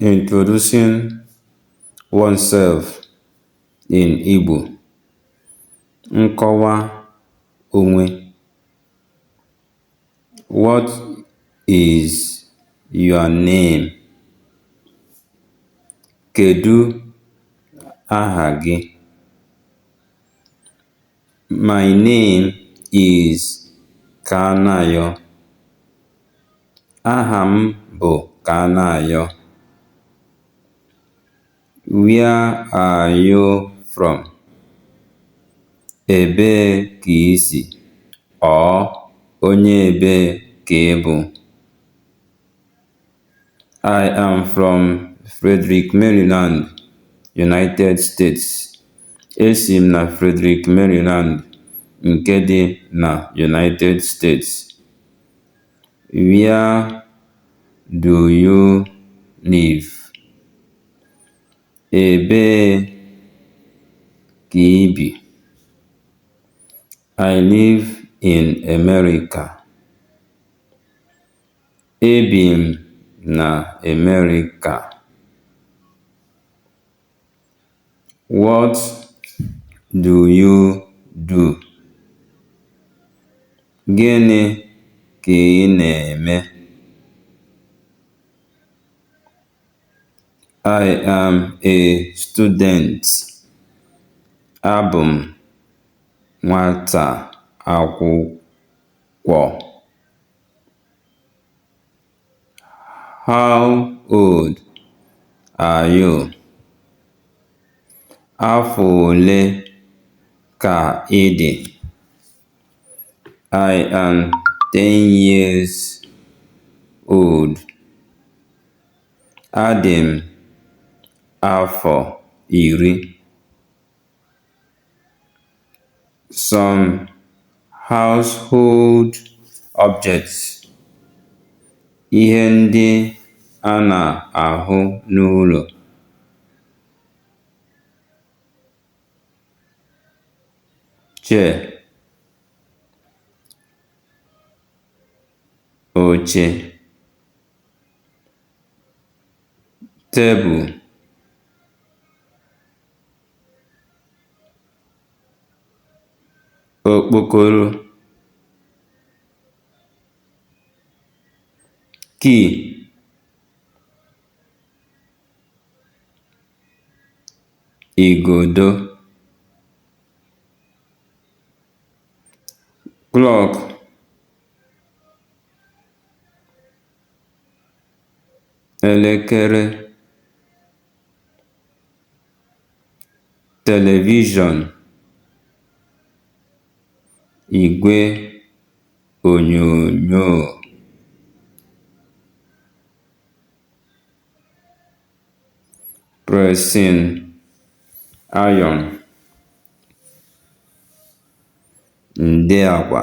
Introducing oneself in Igbo. Nkọwa onwe. What is your name? Kedu aha gị? My name is Kanayo. Aha m bụ Kanayo. Where are you from? Ebee ka i si? Or onye ebee ka ị bụ? I am from Frederick, Maryland, United States. Esi m na Frederick, Maryland, nke dị na United States. Where do you live? Ebee ka i bi? I live in America. Ebi m na America. What do you do? Gịnị ka ị na-eme? I am a student. Abụ m nwata akwụkwọ. How old are you? Afọ ole ka ị dị? I am ten years old. Adị m afọ iri. some household objects ihe ndị a na-ahụ n'ụlọ chair oche table okpokoro key igodo clock elekere Televishọn, igwe onyonyo pressing iron nde akwa.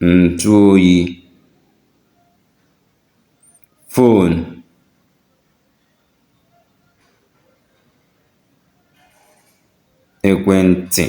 ǹtụoyi fon ekwentị̀